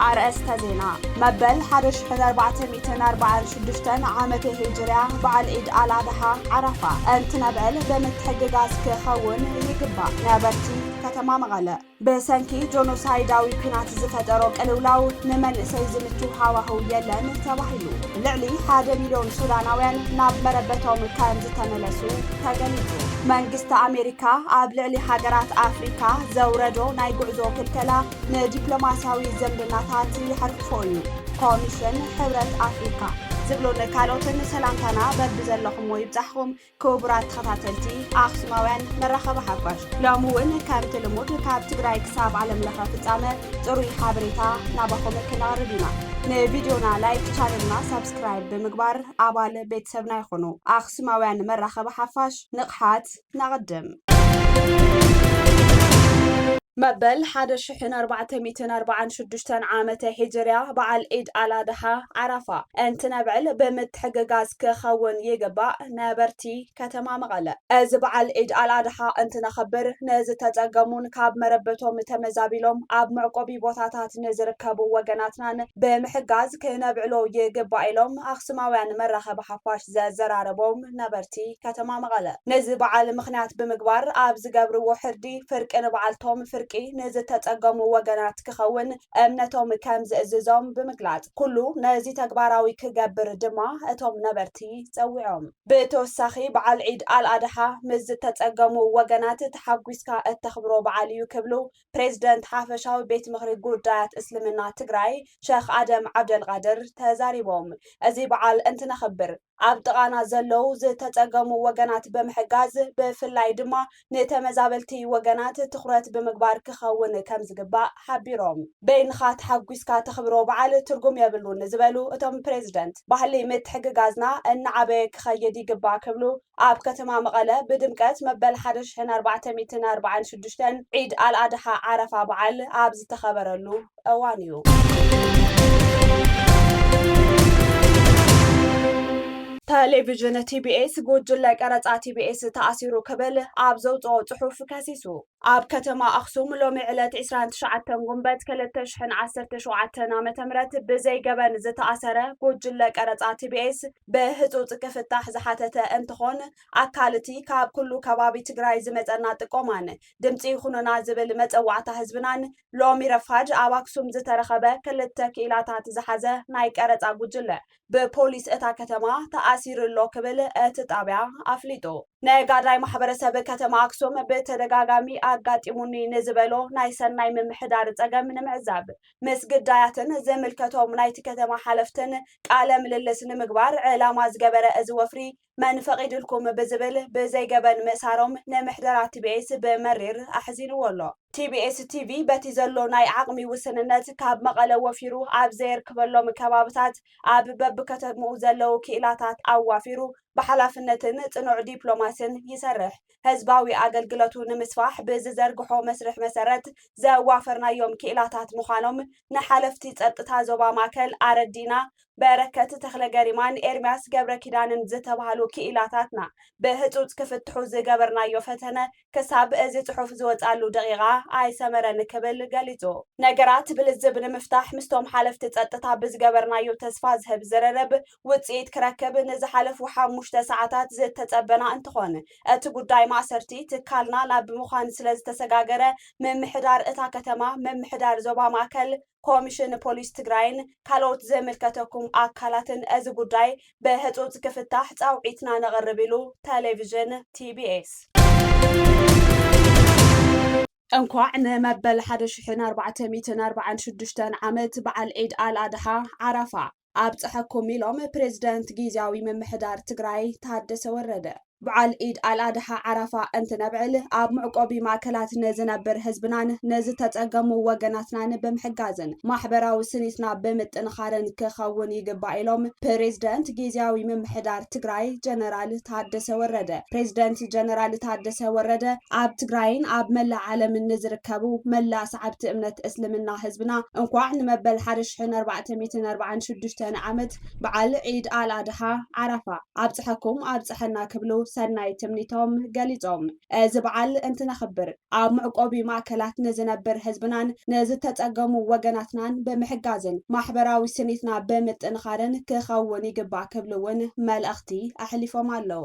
ኣርእስተ ዜና መበል 1446 ዓመተ ሂጅርያ በዓል ዒድ ኣል ኣድሓ ዓረፋ እንትነብዕል ብምትሕግጋዝ ክኸውን ይግባእ ነበርቲ ከተማ መቐለ ብሰንኪ ጆኖሳይዳዊ ኲናት ዝፈጠሮ ቅልውላው ንመንእሰይ ዝምቹ ሃዋህው የለን ተባሂሉ። ልዕሊ ሓደ ሚልዮን ሱዳናውያን ናብ መረበቶም ከም ዝተመለሱ ተገሊጹ። መንግስቲ ኣሜሪካ ኣብ ልዕሊ ሃገራት ኣፍሪካ ዘውረዶ ናይ ጉዕዞ ክልከላ ንዲፕሎማስያዊ ዝምድናታት ይሓርክፎ እዩ። ኮሚሽን ሕብረት ኣፍሪካ ዝብሉን ካልኦትን ሰላምታና በብዘለኹምዎ ይብጻሕኹም ክቡራት ተኸታተልቲ ኣኽሱማውያን መራኸቢ ሓፋሽ ሎሚ እውን ከምቲ ልሙድ ካብ ትግራይ ክሳብ ዓለም ለኸ ፍጻመ ጽሩይ ሓበሬታ ናባኹም ክነቕርብ ኢና። ንቪድዮና ላይክ፣ ቻነልና ሳብስክራይብ ብምግባር ኣባል ቤተሰብና ይኹኑ። ኣኽሱማውያን መራኸቢ ሓፋሽ ንቕሓት ነቕድም! መበል ሓደ ሽሕን ኣርባዕተ ሚእትን ኣርባዓን ሽዱሽተን ዓመተ ሂጅርያ በዓል ዒድ ኣላድሓ ዓራፋ እንትነብዕል ብምትሕግጋዝ ክኸውን ይግባእ ነበርቲ ከተማ መቐለ። እዚ በዓል ዒድ ኣልኣድሓ እንትነኸብር ንዝተፀገሙን ካብ መረበቶም ተመዛቢሎም ኣብ መዕቆቢ ቦታታት ንዝርከቡ ወገናትናን ብምሕጋዝ ክነብዕሎ ይግባእ ኢሎም ኣክሱማውያን መራኸቢ ሓፋሽ ዘዘራረቦም ነበርቲ ከተማ መቐለ ነዚ በዓል ምኽንያት ብምግባር ኣብ ዝገብርዎ ሕርዲ ፍርቂ ንበዓልቶም ፍርቂ ንዝተፀገሙ ወገናት ክኸውን እምነቶም ከም ዝእዝዞም ብምግላፅ ኩሉ ነዚ ተግባራዊ ክገብር ድማ እቶም ነበርቲ ፀዊዖም። ብተወሳኺ በዓል ዒድ ኣልኣድሓ ምስ ዝተፀገሙ ወገናት ተሓጒስካ እተኽብሮ በዓል ኢዩ ክብሉ ፕሬዝደንት ሓፈሻዊ ቤት ምኽሪ ጉዳያት እስልምና ትግራይ ሸኽ ኣደም ዓብደልቓድር ተዛሪቦም። እዚ በዓል እንትነኽብር ኣብ ጥቓና ዘለው ዝተፀገሙ ወገናት ብምሕጋዝ ብፍላይ ድማ ንተመዛበልቲ ወገናት ትኹረት ብምግባር ክኸውን ከምዝግባእ ሓቢሮም። በይንኻ ተሓጒስካ ተኽብሮ በዓል ትርጉም የብሉን ዝበሉ እቶም ፕሬዝደንት፣ ባህሊ ምትሕግጋዝና እናዓበየ ክኸይድ ይግባእ ክብሉ ኣብ ከተማ መቐለ ብድምቀት መበል ሓደ ሽሕን ኣርባዕተ ሚእትን ኣርባዓን ሽዱሽተን ዒድ ኣልኣድሓ ዓረፋ በዓል ኣብ ዝተኸበረሉ እዋን እዩ። ተሌቪዥን ቲቢኤስ ጉጅለ ቀረፃ ቲቢኤስ ተኣሲሩ ክብል ኣብ ዘውፅኦ ፅሑፍ ከሲሱ። ኣብ ከተማ ኣክሱም ሎሚ ዕለት ዕስራን ትሽዓተን ጉንበት ክልተ ሽሕን ዓሰርተ ሸውዓተን ዓመተ ምህረት ብዘይ ገበን ዝተኣሰረ ጉጅለ ቀረፃ ቲቢኤስ ብህፁፅ ክፍታሕ ዝሓተተ እንትኾን ኣካል እቲ ካብ ኩሉ ከባቢ ትግራይ ዝመፀና ጥቆማን ድምፂ ይኹኑና ዝብል መፀዋዕታ ህዝብናን ሎሚ ረፋድ ኣብ ኣክሱም ዝተረኸበ ክልተ ክኢላታት ዝሓዘ ናይ ቀረፃ ጉጅለ ብፖሊስ እታ ከተማ ተኣሲሩ ኣሎ ክብል እቲ ጣብያ ኣፍሊጡ። ነጋዳይ ማሕበረሰብ ከተማ ኣክሱም ብተደጋጋሚ ኣጋጢሙኒ ንዝበሎ ናይ ሰናይ ምምሕዳር ፀገም ንምዕዛብ ምስ ግዳያትን ዝምልከቶም ናይቲ ከተማ ሓለፍትን ቃለ ምልልስ ንምግባር ዕላማ ዝገበረ እዚ ወፍሪ መን ፈቒድልኩም ብዝብል ብዘይ ገበን ምእሳሮም ንምሕደራ ቲቢኤስ ብመሪር ኣሕዚንዎ ኣሎ። ቲቢኤስ ቲቪ በቲ ዘሎ ናይ ዓቕሚ ውስንነት ካብ መቐለ ወፊሩ ኣብ ዘየርክበሎም ከባብታት ኣብ በብከተምኡ ዘለዉ ክኢላታት ኣዋፊሩ ብሓላፍነትን ጽኑዕ ዲፕሎማሲን ይሰርሕ። ህዝባዊ ኣገልግለቱ ንምስፋሕ ብዝዘርግሖ መስርሕ መሰረት ዘዋፈርናዮም ክኢላታት ምዃኖም ንሓለፍቲ ጸጥታ ዞባ ማእከል ኣረዲእና በረከት ተኽለገሪማን ኤርሚያስ ገብረኪዳንን ዝተባህሉ ክኢላታትና ብህፁፅ ክፍትሑ ዝገበርናዮ ፈተነ ክሳብ እዚ ፅሑፍ ዝወፅኣሉ ደቒቓ ኣይሰመረን ክብል ገሊፁ። ነገራት ብልዝብ ንምፍታሕ ምስቶም ሓለፍቲ ፀጥታ ብዝገበርናዮ ተስፋ ዝህብ ዝርርብ ውፅኢት ክረክብ ንዝሓለፉ ሓሙሽተ ሰዓታት ዝተፀበና እንትኾን እቲ ጉዳይ ማእሰርቲ ትካልና ናብ ምዃን ስለዝተሰጋገረ ምምሕዳር እታ ከተማ ምምሕዳር ዞባ ማእከል ኮሚሽን ፖሊስ ትግራይን ካልኦት ዝምልከተኩም ኣካላትን እዚ ጉዳይ ብህፁፅ ክፍታሕ ፃውዒትና ነቕርብ ኢሉ ቴሌቪዥን ቲቢኤስ። እንኳዕ ንመበል ሓደ ሽሕን ኣርባዕተ ሚእትን ኣርባዓን ሽዱሽተን ዓመት በዓል ዒድ ኣል ኣድሓ ዓራፋ ኣብፀሐኩም ኢሎም ፕሬዝደንት ጊዚያዊ ምምሕዳር ትግራይ ታደሰ ወረደ። በዓል ኢድ ኣል ኣድሓ ዓረፋ እንትነብዕል ኣብ መዕቆቢ ማእከላት ንዝነብር ህዝብናን ንዝተፀገሙ ወገናትናን ብምሕጋዝን ማሕበራዊ ስኒትና ብምጥንኻርን ክኸውን ይግባእ ኢሎም ፕሬዝደንት ጊዚያዊ ምምሕዳር ትግራይ ጀነራል ታደሰ ወረደ። ፕሬዝደንት ጀነራል ታደሰ ወረደ ኣብ ትግራይን ኣብ መላእ ዓለምን ንዝርከቡ መላእ ሰዓብቲ እምነት እስልምና ህዝብና እንኳዕ ንመበል ሓደ ሽሕን ኣርባዕተ ሚእትን ኣርባዓን ሽዱሽተን ዓመት በዓል ዒድ ኣል ኣድሓ ዓራፋ ኣብፀሐኩም ኣብፀሐና ክብሉ ሰናይ ትምኒቶም ገሊፆም። እዚ በዓል እንትነኽብር ኣብ መዕቆቢ ማእከላት ንዝነብር ህዝብናን ንዝተፀገሙ ወገናትናን ብምሕጋዝን ማሕበራዊ ስኒትና ብምጥንኻርን ክኸውን ይግባእ ክብሉ እውን መልእኽቲ ኣሕሊፎም ኣለው።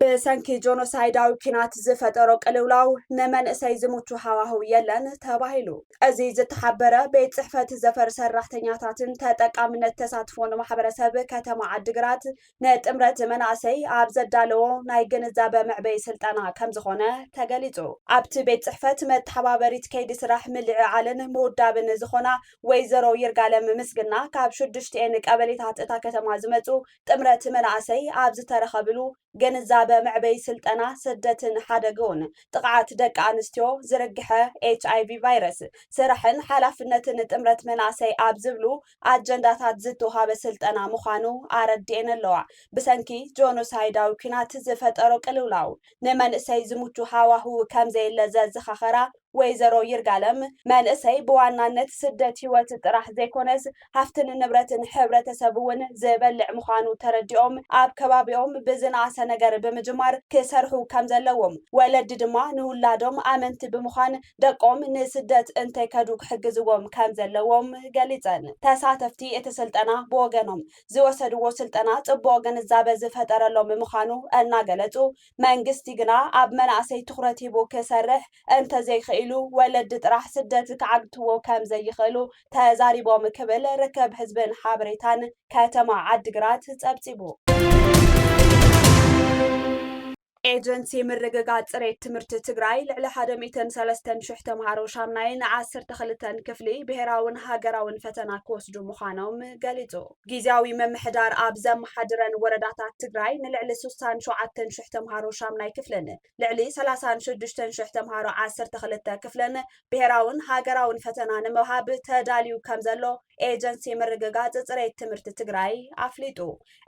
ብሰንኪ ጆኖሳይዳዊ ኲናት ዝፈጠሮ ቅልውላው ንመንእሰይ ዝምቹ ሃዋህው የለን ተባሂሉ። እዚ ዝተሓበረ ቤት ጽሕፈት ዘፈር ሰራሕተኛታትን ተጠቃምነት ተሳትፎ ንማሕበረሰብ ከተማ ዓዲግራት ንጥምረት መናእሰይ ኣብ ዘዳለዎ ናይ ግንዛበ መዕበይ ስልጠና ከም ዝኾነ ተገሊጹ። ኣብቲ ቤት ጽሕፈት መተሓባበሪት ከይዲ ስራሕ ምልዕዓልን ምውዳብን ዝኾና ወይዘሮ ይርጋለም ምስግና ካብ ሽዱሽቲኤን ቀበሌታት እታ ከተማ ዝመፁ ጥምረት መናእሰይ ኣብ ዝተረኸብሉ ግንዛበ መዕበይ ስልጠና ስደትን ሓደግኡን ጥቕዓት ደቂ ኣንስትዮ ዝርግሐ ኤች ኣይቪ ቫይረስ ስራሕን ሓላፍነትን ጥምረት መናእሰይ ኣብ ዝብሉ ኣጀንዳታት ዝተውሃበ ስልጠና ምዃኑ ኣረድኤን ኣለዋ። ብሰንኪ ጆኖሳይዳዊ ኲናት ዝፈጠሮ ቅልውላው ንመንእሰይ ዝምቹ ሃዋህው ከምዘየለ ዘዘኻኸራ ወይዘሮ ይርጋለም፣ መንእሰይ ብዋናነት ስደት ህይወት ጥራሕ ዘይኮነስ ሃፍትን ንብረትን ሕብረተሰብ እውን ዝበልዕ ምዃኑ ተረዲኦም ኣብ ከባቢኦም ብዝነኣሰ ነገር ብምጅማር ክሰርሑ ከምዘለዎም፣ ወለዲ ድማ ንውላዶም ኣመንቲ ብምዃን ደቆም ንስደት እንተይከዱ ክሕግዝዎም ከምዘለዎም ገሊፀን። ተሳተፍቲ እቲ ስልጠና ብወገኖም፣ ዝወሰድዎ ስልጠና ፅቡቕ ግንዛበ ዝፈጠረሎም ምዃኑ እናገለፁ፣ መንግስቲ ግና ኣብ መናእሰይ ትኹረት ሂቡ ክሰርሕ እንተዘይኽኢሉ ወለዲ ጥራሕ ስደት ክዓግትዎ ከምዘይኽእሉ ተዛሪቦም ክብል ርክብ ህዝብን ሓበሬታን ከተማ ዓዲግራት ፀብፂቡ። ኤጀንሲ ምርግጋፅ ፅሬት ትምህርቲ ትግራይ ልዕሊ ሓደ ሚእትን ሰለስተን ሽሕ ተምሃሮ ሻምናይን ዓሰርተ ክልተን ክፍሊ ብሄራውን ሃገራውን ፈተና ክወስዱ ምዃኖም ገሊፁ። ጊዚያዊ ምምሕዳር ኣብ ዘመሓድረን ወረዳታት ትግራይ ንልዕሊ ሱሳን ሸውዓተን ሽሕ ተምሃሮ ሻምናይ ክፍልን ልዕሊ ሰላሳን ሽዱሽተን ሽሕ ተምሃሮ ዓሰርተ ክልተ ክፍልን ብሄራውን ሃገራውን ፈተና ንምሃብ ተዳልዩ ከም ዘሎ ኤጀንሲ ምርግጋፅ ፅሬት ትምህርቲ ትግራይ ኣፍሊጡ።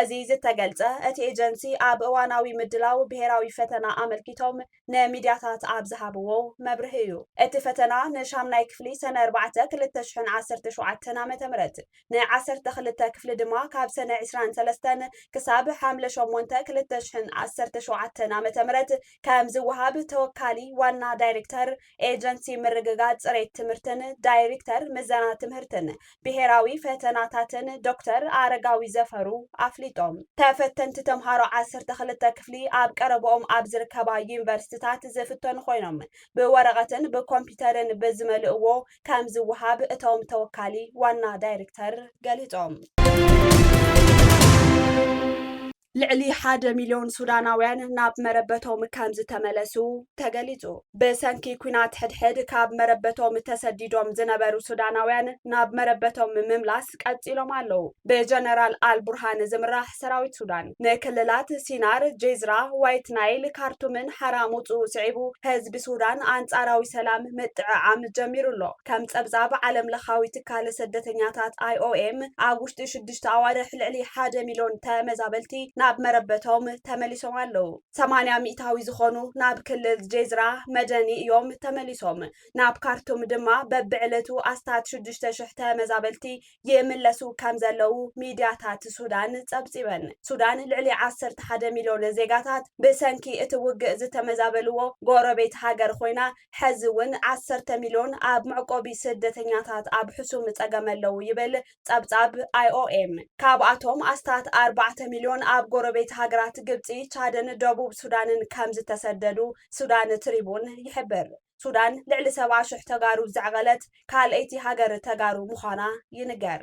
እዚ ዝተገልፀ እቲ ኤጀንሲ ኣብ እዋናዊ ምድላው ብሄራዊ ፈተና ኣመልኪቶም ንሚድያታት ኣብ ዝሃብዎ መብርሂ እዩ። እቲ ፈተና ንሻምናይ ክፍሊ ሰነ ኣርባዕተ ክልተ ሽሕን ዓሰርተ ሸውዓተን ዓመተ ምህረት፣ ንዓሰርተ ክልተ ክፍሊ ድማ ካብ ሰነ ዕስራን ሰለስተን ክሳብ ሓምለ ሸሞንተ ክልተ ሽሕን ዓሰርተ ሸውዓተን ዓመተ ምህረት ከምዝወሃብ ተወካሊ ዋና ዳይሬክተር ኤጀንሲ ምርግጋፅ ፅሬት ትምህርትን ዳይሪክተር ምዘና ትምህርትን ብሄራዊ ፈተናታትን ዶክተር ኣረጋዊ ዘፈሩ ኣፍሊጦም። ተፈተንቲ ተምሃሮ ዓሰርተ ክልተ ክፍሊ ኣብ ቀረበኦም ኣብ ዝርከባ ዩኒቨርስትታት ዝፍተኑ ኮይኖም ብወረቐትን ብኮምፒተርን ብዝመልእዎ ከምዝወሃብ እቶም ተወካሊ ዋና ዳይሪክተር ገሊፆም። ልዕሊ ሓደ ሚልዮን ሱዳናውያን ናብ መረበቶም ከምዝተመለሱ ተገሊጹ። ብሰንኪ ኩናት ሕድሕድ ካብ መረበቶም ተሰዲዶም ዝነበሩ ሱዳናውያን ናብ መረበቶም ምምላስ ቀጺሎም ኣለዉ። ብጀነራል ኣልቡርሃን ዝምራሕ ሰራዊት ሱዳን ንክልላት ሲናር፣ ጄዝራ፣ ዋይት ናይል፣ ካርቱምን ሓራ ምውጽኡ ስዒቡ ህዝቢ ሱዳን ኣንጻራዊ ሰላም ምጥዕዓም ጀሚሩ ኣሎ። ከም ጸብጻብ ዓለምለኻዊ ትካል ስደተኛታት፣ IOM፣ ኣብ ውሽጢ ሽዱሽተ ኣዋርሕ ልዕሊ ሓደ ሚልዮን ተመዛበልቲ ናብ መረበቶም ተመሊሶም ኣለዉ። ሰማንያ ሚእታዊ ዝኾኑ ናብ ክልል ጄዝራ መደኒ እዮም ተመሊሶም። ናብ ካርቱም ድማ በብዕለቱ ኣስታት ሽዱሽተ ሽሕ ተመዛበልቲ ይምለሱ ከምዘለዉ ሚድያታት ሱዳን ፀብፂበን። ሱዳን ልዕሊ ዓሰርተ ሓደ ሚልዮን ዜጋታት ብሰንኪ እቲ ውግእ ዝተመዛበልዎ ጎረቤት ሃገር ኾይና ሐዚ እውን ዓሰርተ ሚልዮን ኣብ መዕቆቢ ስደተኛታት ኣብ ሕሱም ፀገም ኣለዉ ይብል ጸብጻብ ኣይኦኤም፣ ካብኣቶም ኣስታት ኣርባዕተ ሚልዮን ኣብ ጎረቤት ሃገራት ግብጺ፣ ቻድን ደቡብ ሱዳንን ከምዝተሰደዱ ሱዳን ትሪቡን ይሕብር። ሱዳን ልዕሊ ሰብዓ ሽሕ ተጋሩ ዘዕቐለት ካልኣይቲ ሃገር ተጋሩ ምዃና ይንገር።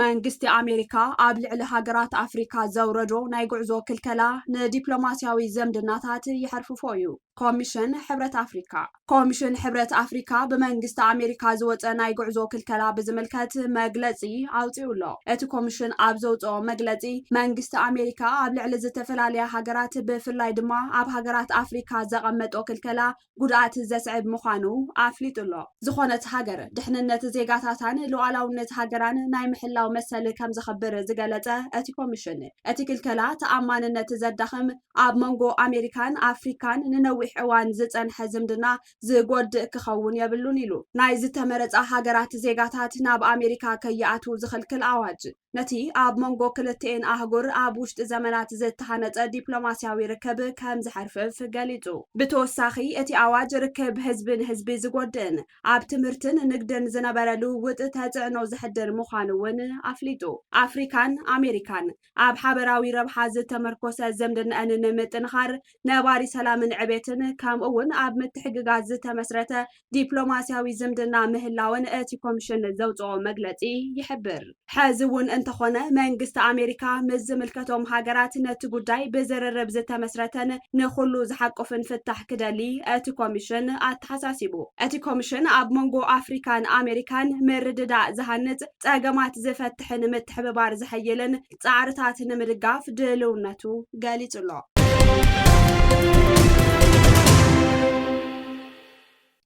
መንግስቲ ኣሜሪካ ኣብ ልዕሊ ሃገራት ኣፍሪካ ዘውረዶ ናይ ጉዕዞ ክልከላ ንዲፕሎማስያዊ ዝምድናታት የሐርፍፎ እዩ፣ ኮሚሽን ሕብረት ኣፍሪካ። ኮሚሽን ሕብረት ኣፍሪካ ብመንግስቲ ኣሜሪካ ዝወፀ ናይ ጉዕዞ ክልከላ ብዝምልከት መግለፂ ኣውፂኡ ኣሎ። እቲ ኮሚሽን ኣብ ዘውፅኦ መግለፂ መንግስቲ ኣሜሪካ ኣብ ልዕሊ ዝተፈላለያ ሃገራት ብፍላይ ድማ ኣብ ሃገራት ኣፍሪካ ዘቐመጦ ክልከላ ጉድኣት ዘስዕብ ምዃኑ ኣፍሊጡ ኣሎ። ዝኾነት ሃገር ድሕንነት ዜጋታታን ሉኣላውነት ሃገራን ናይ ምሕላው መሰል ከምዘኽብር ዝገለፀ እቲ ኮሚሽን እቲ ክልከላ ተኣማንነት ዘዳኽም፣ ኣብ መንጎ ኣሜሪካን ኣፍሪካን ንነዊሕ እዋን ዝፀንሐ ዝምድና ዝጎድእ ክኸውን የብሉን ኢሉ። ናይ ዝተመረፃ ሃገራት ዜጋታት ናብ ኣሜሪካ ከይኣትዉ ዝኽልክል ኣዋጅ፣ ነቲ ኣብ መንጎ ክልቲኤን ኣህጉር ኣብ ውሽጢ ዘመናት ዝተሃነፀ ዲፕሎማሲያዊ ርክብ ከምዝሐርፍፍ ገሊፁ። ብተወሳኺ እቲ ኣዋጅ ርክብ ህዝቢ ንህዝቢ ዝጎድእን ኣብ ትምህርትን ንግድን ዝነበረ ልውውጥ ተፅዕኖ ዘሕድር ምዃኑ እውን ኣፍሊጡ። ኣፍሪካን ኣሜሪካን ኣብ ሓበራዊ ረብሓ ዝተመርኮሰ ዝምድነኣን ንምጥንኻር ነባሪ ሰላምን ዕቤትን ከምኡ እውን ኣብ ምትሕግጋዝ ዝተመስረተ ዲፕሎማሲያዊ ዝምድና ምህላወን እቲ ኮሚሽን ዘውፅኦ መግለፂ ይሕብር። ሕዚ እውን እንተኾነ መንግስቲ ኣሜሪካ ምስ ዝምልከቶም ሃገራት ነቲ ጉዳይ ብዝርርብ ዝተመስረተን ንኹሉ ዝሓቁፍን ፍታሕ ክደሊ እቲ ኮሚሽን ኣተሓሳሲቡ። እቲ ኮሚሽን ኣብ መንጎ ኣፍሪካን ኣሜሪካን ምርድዳእ ዝሃንፅ፣ ፀገማት ዝፈትሕን ምትሕብባር ዘሐይልን ፃዕርታት ንምድጋፍ ድልውነቱ ገሊፁ ኣሎ።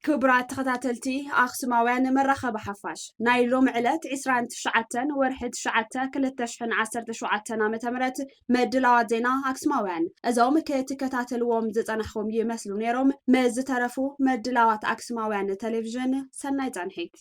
ክቡራት ተኸታተልቲ ኣኽሱማውያን መራኸቢ ሓፋሽ ናይ ሎም ዕለት 29 ወርሒ 9 2017 ዓ ም ምድላዋት ዜና ኣክስማውያን እዞም ክትከታተልዎም ዝጸናሕኹም ይመስሉ ነይሮም ምስ ዝተረፉ ምድላዋት ኣክስማውያን ቴሌቭዥን ሰናይ ጸንሒት